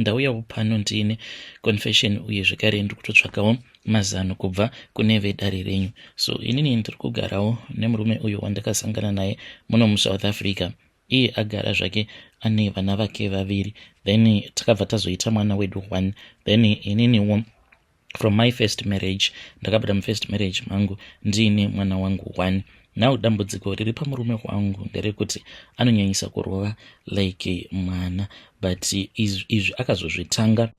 ndauyawo pano ndiine confession uye zvekare ndiri kutotsvakawo mazano kubva kune vedare renyu so inini ndiri kugarawo nemurume uyo wandakasangana naye muno musouth africa iye agara zvake ane vana vake vaviri then takabva tazoita mwana wedu one then ininiwo from my first marriage ndakabata mufirst marriage mangu ndiine mwana wangu one now dambudziko riri pamurume wangu nderekuti anonyanyisa kurova like mwana but izvi akazozvitanga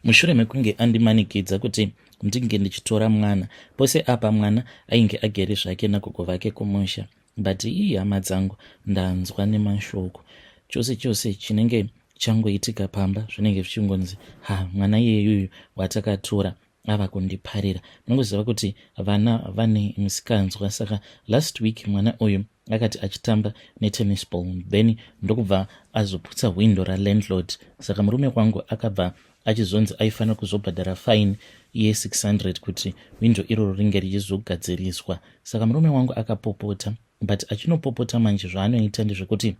mushure mekunge andimanikidza kuti ndinge ndichitora mwana pose apa mwana ainge agere zvake nagogo vake kumusha but ii hama dzangu ndanzwa nemashoko chose chose chinenge changoitika pamba zvinenge zvichingonzi ha mwana iyeyuyu watakatora ava kundiparira munongoziva kuti vana vane misikanzwa saka last week mwana uyu akati achitamba netennis ball then ndokubva azoputsa hwindo ralandlord saka murume kwangu akabva achizonzi aifanira kuzobhadhara fine ye600 kuti hwindo iroro ringe richizogadziriswa saka murume wangu akapopota but achinopopota manje zvaanoita ndezvekuti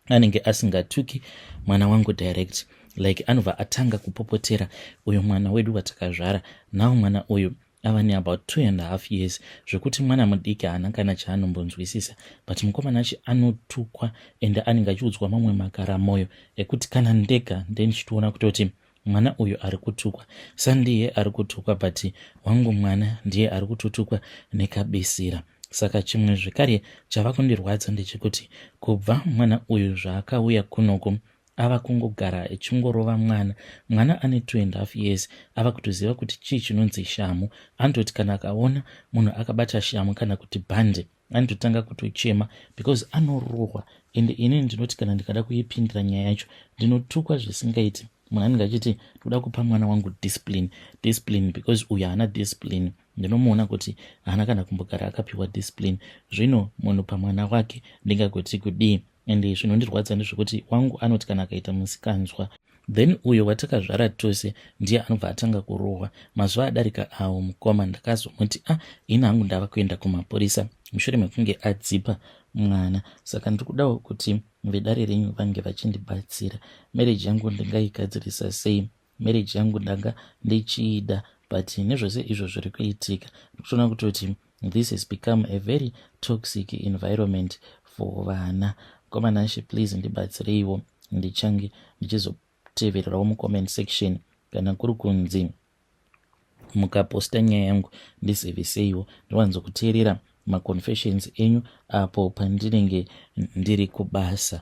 anenge asingatuki mwana wangu direct like anobva atanga kupopotera uyo mwana wedu watakazvara now mwana uyu ava neabout two and half years zvekuti mwana mudiki haana kana chaanombonzwisisa but mukomana achi anotukwa ende anenge achiudzwa mamwe makara mwoyo ekuti kana ndega ndendichitoona kutoti mwana uyu ari kutukwa sandiye ari kutukwa but wangu mwana ndiye ari kutotukwa nekabisira saka chimwe zvekare chava kundirwadza ndechekuti kubva mwana uyu zvaakauya kunoku ava kungogara echingorova mwana mwana ane two and half years ava kutoziva kuti chii chinonzi shamhu anototi kana akaona munhu akabata shamhu kana kuti bhande anototanga kutochema because anorohwa ende ini ndinoti kana ndikada kuipindira nyaya yacho ndinotukwa zvisingaiti munhu anenge achiti ndikuda kupa mwana wangu discipline discipline because uyu haana discipline ndinomuona kuti haana kana kumbogara akapiwa discipline zvino munhu pamwana wake ndingagoti kudii and zvinondirwadza ndezvekuti wangu anoti kana akaita musikanzwa then uyo watakazvara tose ndiye anobva atanga kurohwa mazuva adarika awo mukoma ndakazomuti a ah, ini hangu ndava kuenda kumapurisa mushure mekunge adzipa mwana saka ndiri kudawo kuti vedare renyu vange vachindibatsira mereji yangu ndingaigadzirisa sei marriage yangu ndanga ndichiida but nezvose izvo zviri kuitika ndikutoona kutoti this has become a very toxic environment for vana komanashe please ndibatsireiwo ndichange ndichizotevererawo mucomment section kana kuri kunzi mukaposta nyaya yangu ndiziviseiwo ndiwanzo kuteerera maconfessions enyu apo pandinenge ndiri kubasa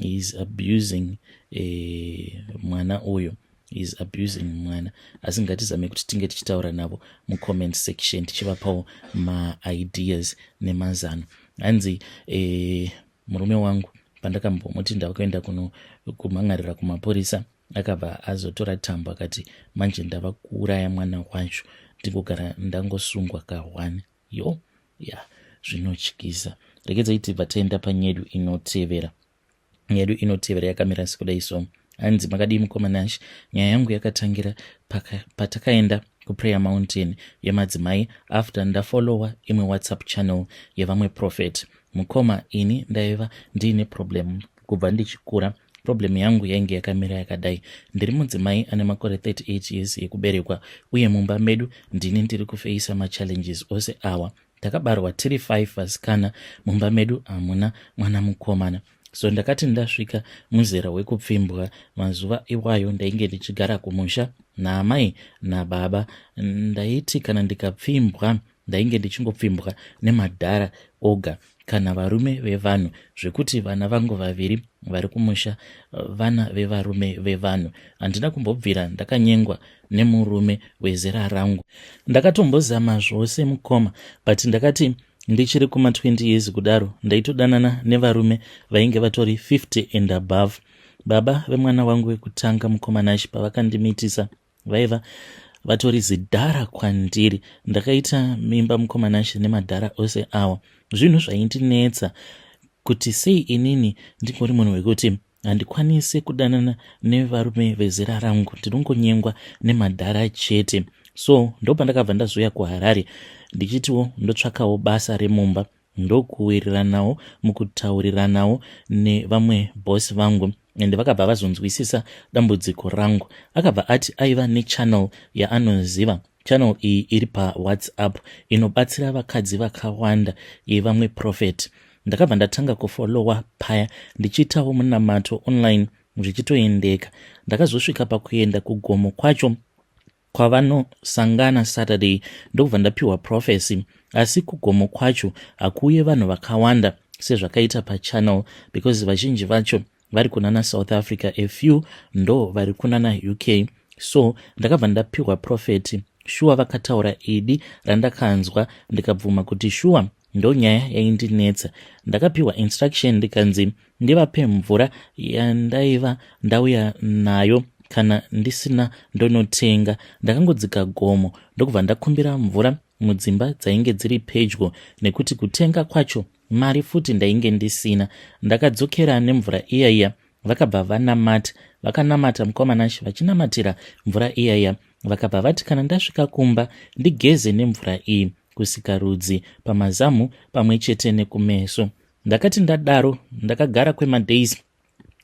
he is abusing eh, mwana uyo he is abusing mwana asi ngatizame kuti tinge tichitaura navo mucomment section tichivapawo maideas nemazano hanzi eh, murume wangu pandakambomuti ndakuenda kuno kumhan'arira kumapurisa akabva azotora tambo akati manje ndava kuuraya mwana wacho ndingogara ndangosungwa kahwani yo ya zvinotyisa regedzai tibva taenda panyedu inotevera nyedu inotevera yakamira sekudai so hanzi makadii mukoma nash nyaya yangu yakatangira patakaenda pa kuprayer mountain yemadzimai after ndafollowa imwe whatsapp channel yevamwe prophet mukoma ini ndaiva ndiine problem kubva ndichikura problem yangu yainge yakamira yakadai ndiri mudzimai ane makore 38 years yekuberekwa uye mumba medu ndini ndiri kufeisa machallenges ose awa takabarwa tiri 5 vasikana mumba medu hamuna mwana mukomana so ndakati ndasvika muzera wekupfimbwa mazuva iwayo ndainge ndichigara kumusha naamai nababa ndaiti kana ndikapfimbwa ndainge ndichingopfimbwa nemadhara oga kana varume vevanhu zvekuti vana vangu vaviri vari kumusha vana vevarume vevanhu handina kumbobvira ndakanyengwa nemurume wezera rangu ndakatombozama zvose mukoma but ndakati ndichiri kuma 20 years kudaro ndaitodanana nevarume vainge vatori 50 and above baba vemwana wangu wekutanga mukoma nashi pavakandimitisa vaiva vatori zidhara kwandiri ndakaita mimba mukomanashe nemadhara ose awa zvinhu zvaindinetsa kuti sei inini ndingori munhu wekuti handikwanise kudanana nevarume vezera rangu ndinongonyengwa nemadhara chete so ndopandakabva ndazouya kuharare ndichitiwo ndotsvakawo basa remumba ndokuwiriranawo mukutauriranawo nevamwe boss vangu and vakabva vazonzwisisa dambudziko rangu akabva ati aiva nechannel yaanoziva channel iyi iri pawhatsapp inobatsira vakadzi vakawanda yevamwe prophet ndakabva ndatanga kufolowa paya ndichiitawo munamato online zvichitoendeka ndakazosvika pakuenda kugomo kwacho kwavanosangana saturday ndokubva ndapiwa prophecy asi kugomo kwacho hakuuye vanhu vakawanda sezvakaita pachannel because vazhinji vacho vari kunana south africa a few ndo vari kunana uk so ndakabva ndapiwa profeti shuwa vakataura idi randakanzwa ndikabvuma kuti shuwa Ndonyaya yaindinetsa. Ndakapiwa instruction ndikanzi ndivape mvura yandaiva ndauya nayo kana ndisina ndonotenga. Ndakangodzika gomo ndokubva ndakumbira mvura mudzimba dzainge dziri pedyo nekuti kutenga kwacho mari futi ndainge ndisina. Ndakadzokera nemvura iya iya vakabva vanamata vakanamata mukoma nashe vachinamatira mvura iyaya vakabva vati kana ndasvika kumba ndigeze nemvura iyi kusika rudzi pamazamu pamwe chete nekumeso ndakati ndadaro ndakagara kwemadays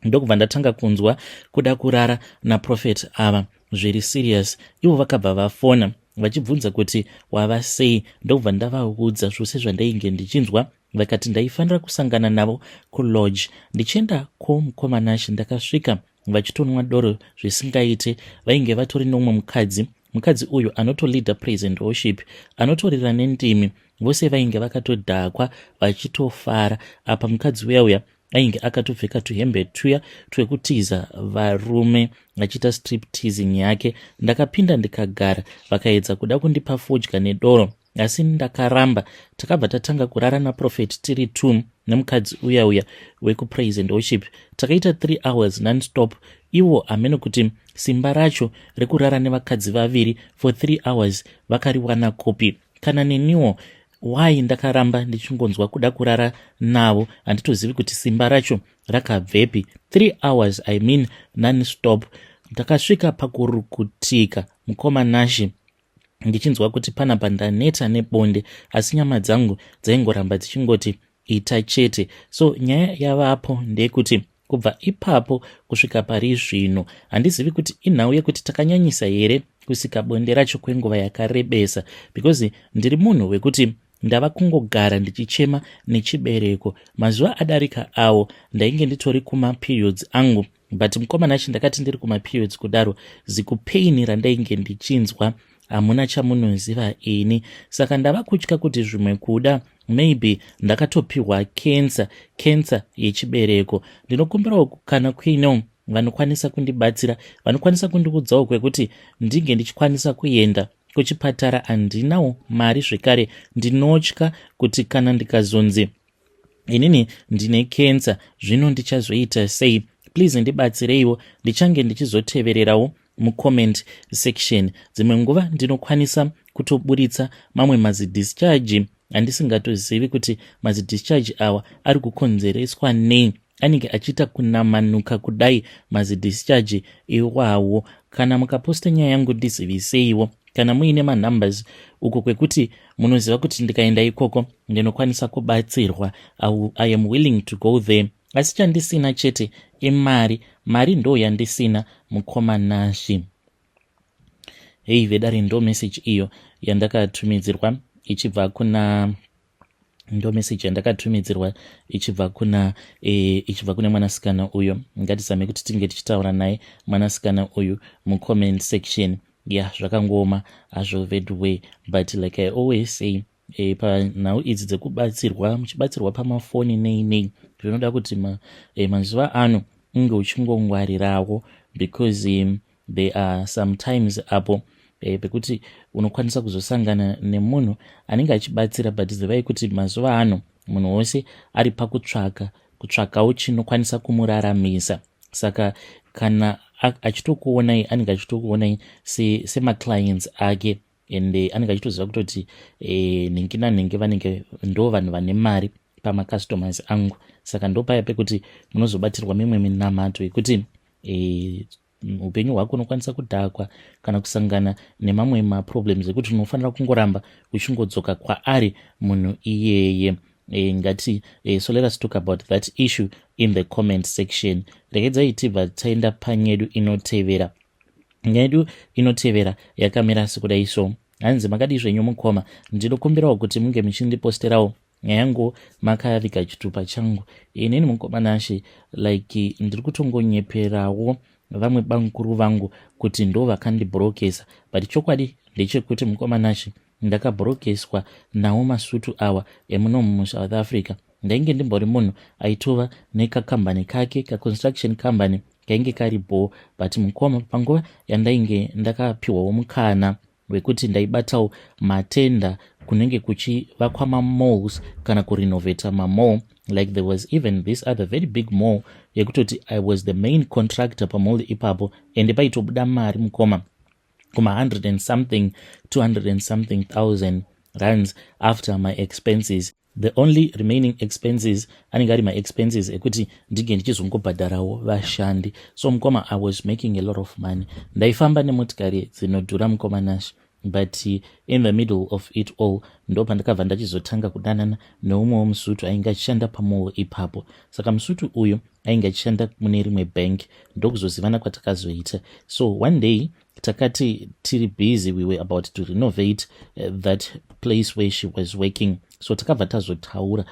ndokubva ndatanga kunzwa kuda kurara naprofet ava zviri serious ivo vakabva vafona vachibvunza kuti wava sei ndokubva ndavaudza zvose zvandainge ndichinzwa vakati ndaifanira kusangana navo kulodge ndichienda kwomukomanashe ndakasvika vachitonwa doro zvisingaite vainge vatori nomwe mukadzi mukadzi uyu anotoleader praise and worship anotorira nendimi vose vainge vakatodhakwa vachitofara apa mukadzi uya uya ainge akatopfeka tuhembe tuya twekutiza varume achiita strip teasing yake ndakapinda ndikagara vakaedza kuda kundipa fodya nedoro asi ndakaramba takabva tatanga kurara naprofet tiri two nemukadzi uya uya wekupraise and worship takaita three hours nonstop ivo hameno kuti simba racho rekurara nevakadzi vaviri for three hours vakariwana kupi kana neniwo why ndakaramba ndichingonzwa kuda kurara navo handitozivi kuti simba racho rakabvepi three hours i mean nonstop ndakasvika pakurukutika mukoma nashe ndichinzwa kuti panapa ndaneta nebonde asi nyama dzangu dzaingoramba dzichingoti ita chete so nyaya yavapo ndeyekuti kubva ipapo kusvika pari zvino handizivi kuti inhau yekuti takanyanyisa here kusika bonde racho kwenguva yakarebesa because ndiri munhu wekuti Ndava kungogara ndichichema nechibereko. Mazuva adarika awo ndainge nditori kumaperiods angu but mukomana chi ndakati ndiri kumaperiods kudaro zikupain randainge ndichinzwa hamuna chamunoziva ini saka ndava kutya kuti zvimwe kuda maybe ndakatopiwa cancer cancer yechibereko ndinokumbirawo kana kuino vanokwanisa kundibatsira vanokwanisa kundiudzawo kwekuti ndinge ndichikwanisa kuenda kuchipatara handinawo mari zvekare ndinotya kuti kana ndikazonzi inini ndine kensa zvino ndichazoita sei please ndibatsireiwo ndichange ndichizotevererawo mucomment section dzimwe nguva ndinokwanisa kutoburitsa mamwe mazidischarge handisingatozivi kuti mazidischarge awa ari kukonzereswa nei anenge achiita kunamanuka kudai mazidischarge iwawo kana mukaposta nyaya yangu ndiziviseiwo kana muine manumbers uko kwekuti munoziva kuti ndikaenda ikoko ndinokwanisa kubatsirwa i am willing to go there asi chandisina chete imari mari ndo yandisina mukoma nashi hei vedare ndo message iyo yandakatumidzirwa ichibva kuna ndo message yandakatumidzirwa ichibva kuna e, ichibva kune mwanasikana uyo ngatizame kuti tinge tichitaura naye mwanasikana uyu mucomment section ya yeah, zvakangooma hazvo veduway but like i always say e, panhau idzi dzekubatsirwa muchibatsirwa pamafoni nei nei zvinoda kuti ma, e, mazuva ano unge uchingongwarirawo because um, there are sometimes apo e, pekuti unokwanisa kuzosangana nemunhu anenge achibatsira but zivai kuti mazuva ano munhu wose ari pakutsvaka kutsvakawo chinokwanisa kumuraramisa saka kana achitokuonai anenge achitokuonai semaclients se ake and eh, anenge achitoziva kutoti eh, nhingi nanhingi vanenge ndo vanhu vane mari pamacustomers angu saka ndopaya pekuti munozobatirwa mimwe minamato yekuti eh, upenyu hwako unokwanisa kudhakwa kana kusangana nemamwe maproblems ekuti unofanira kungoramba uchingodzoka kwaari munhu iyeye e, ngati e, so let us talk about that issue in the comment section regedzai tibva taenda panyedu inotevera nyaya yedu inotevera yakamira sekudai so hanzi makadii zvenyu mukoma ndinokumbirawo kuti munge muchindiposterawo nyaya yangu makaviga chitupa changu inini mukoma nashe like ndiri kutongonyeperawo vamwe bamukuru vangu kuti ndo vakandibrokesa but chokwadi ndechekuti mukoma nashe Ndakabhorogeswa nawo masutu awa emunomu muSouth Africa. Ndainge ndimbori munhu aitova nekakambani kake, kaconstruction company kainge kari bho but mukoma panguva yandainge ndakapiwawo mukana wekuti ndaibatawo matenda kunenge kuchivakwa mamalls kana kurenovata mamall like there was even this other very big mall yekutoti i was the main contractor pamall ipapo ende paitobuda mari mukoma kuma 100 and something 200 and something thousand rands after my expenses the only remaining expenses anenge ari maexpenses ekuti ndinge ndichizongobhadharawo vashandi so mukoma i was making a lot of money ndaifamba nemotikari dzinodhura mukoma nash but in the middle of it all ndo pandakabva ndachizotanga kudanana neumwewo musutu ainge achishanda pamuwo ipapo saka musutu uyu ainge achishanda mune rimwe bank ndokuzozivana kwatakazoita so one day takati tiri busy we were about to renovate eh, that place where she was working so takabva tazotaura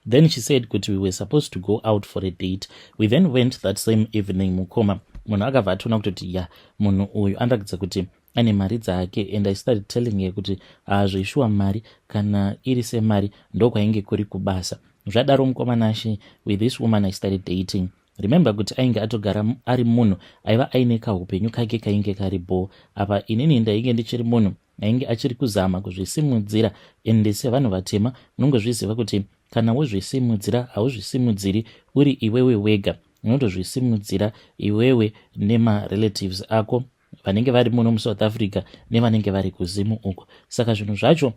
then she said kuti we were supposed to go out for a date we then went that same evening mukoma munhu akabva atoona kutoti ya munhu uyu anoratidza kuti ane mari dzake and i started telling her kuti hazvo ishuwa mari kana iri semari ndokwainge kuri kubasa zvadaro mukomana ashe with this woman i started dating remember kuti ainge atogara ari munhu aiva aine kaupenyu kake kainge kari bho apa inini ndainge ndichiri munhu ainge achiri kuzama kuzvisimudzira ende sevanhu vatema unongozviziva kuti kana wozvisimudzira hauzvisimudziri uri iwewe wega unotozvisimudzira iwewe nemarelatives ako vanenge vari muno musouth africa nevanenge vari kuzimu uko saka zvinhu zvacho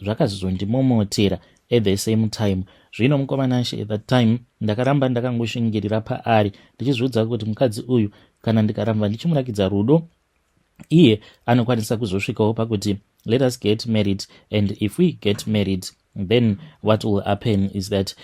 zvakazondimomotera at the same time zvino mukomanashe at that time ndakaramba ndakangoshingirira paari ndichizviudza kuti mukadzi uyu kana ndikaramba ndichimurakidza rudo iye anokwanisa kuzosvikawo pakuti let us get married and if we get married Then what will happen is that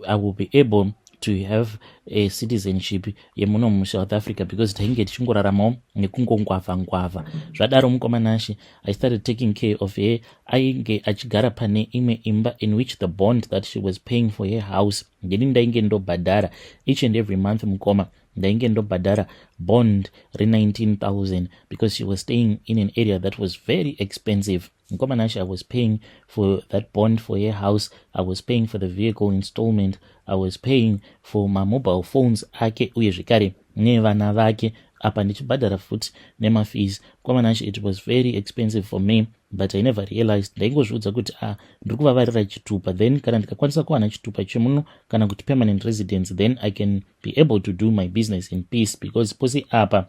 I will be able to have a citizenship yemuno musouth africa because tainge tichingoraramawo nekungongwavha ngwavha zvadaro mukoma nashe i started taking care of her ainge achigara pane imwe imba in which the bond that she was paying for her house ndini ndainge ndobhadhara each and every month mukoma ndainge ndobhadhara bond re19000 because she was staying in an area that was very expensive Mkoma Nashe, I was paying for that bond for your house. I was paying for the vehicle installment. I was paying for my mobile phones ake uye zvekare nevana vake apa ndichibhadhara futi nemafees mkoma Nashe, it was very expensive for me but i never realized ndaingozviudza kuti a ah, ndiri kuvavarira chitupa then kana ndikakwanisa kuwana chitupa chemuno kana kuti permanent residence then i can be able to do my business in peace because pose apa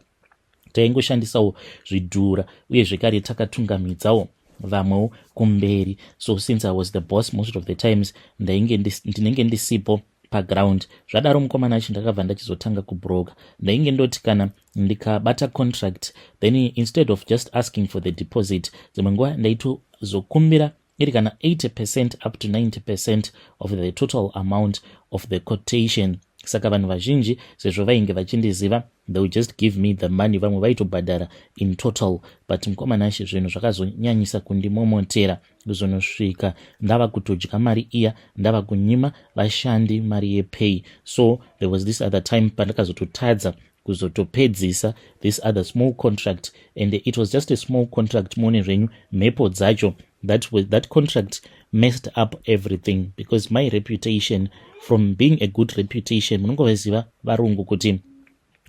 taingoshandisawo zvidhura uye zvekare takatungamidzawo vamwewo kumberi so since i was the boss most of the times ndainge ndinenge ndisipo paground zvadaro mukomana achi ndakabva ndachizotanga kubroker ndainge ndoti kana ndikabata contract then instead of just asking for the deposit dzimwe nguva ndaitozokumbira iri kana 80 percent up to 90 percent of the total amount of the quotation saka vanhu vazhinji sezvo vainge vachindiziva they will just give me the money vamwe vaitobhadhara in total but mukoma nashe zvinhu zvakazonyanyisa kundimomotera kuzonosvika ndava kutodya mari iya ndava kunyima vashandi mari yepay so there was this other time pandakazototadza kuzotopedzisa this other small contract and it was just a small contract muone zvenyu mhepo dzacho that, was, that contract messed up everything because my reputation from being a good reputation munongovaziva varungu kuti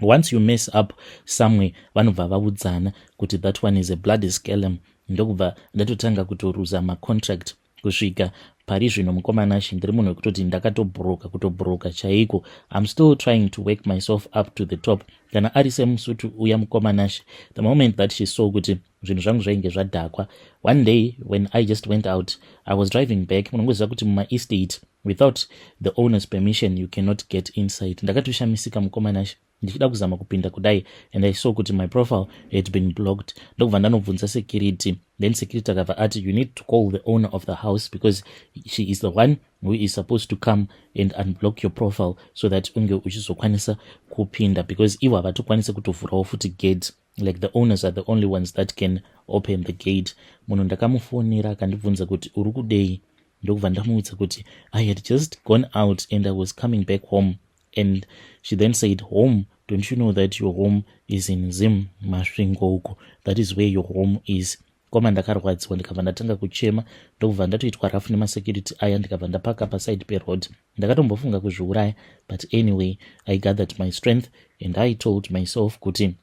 once you mess up somewhere vanobva vaudzana kuti that one is a bloody scalum ndokubva ndatotanga kutoruza macontract kusvika pari zvino mukomanashe ndiri munhu wekutoti ndakatobhuruka kutobhuruka chaiko im still trying to wake myself up to the top kana ari semusutu uya mukomanashe the moment that she saw kuti zvinhu zvangu zvainge zvadhakwa one day when i just went out i was driving back munongoziva kuti mumaestate without the owners permission you cannot get inside ndakatoshamisika mukomanashe ndichida kuzama kupinda kudai and i saw kuti my profile had been blocked ndokubva ndanobvunza security then security akabva ati you need to call the owner of the house because she is the one who is supposed to come and unblock your profile so that unge uchizokwanisa kupinda because ivo havatokwanise kutovhurawo futi gate like the owners are the only ones that can open the gate munhu ndakamufonera akandibvunza kuti uri kudei ndokubva ndamuudza kuti i had just gone out and i was coming back home and she then said home don't you know that your home is in zim masvingo uko that is where your home is koma ndakarwadziwa ndikabva ndatanga kuchema ndokubva ndatoitwa rafu nemasecurity aya ndikabva ndapaka paside peroad ndakatombofunga kuzviuraya but anyway i gathered my strength and i told myself kuti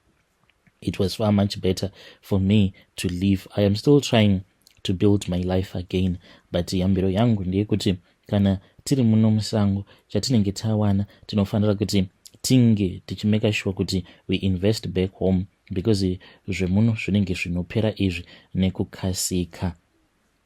it was far much better for me to leave i am still trying to build my life again but yambiro yangu ndeyekuti kana tiri muno musango chatinenge tawana tinofanira kuti tinge tichimeka shuwa kuti we invest back home because zvemuno zvinenge zvinopera izvi nekukasika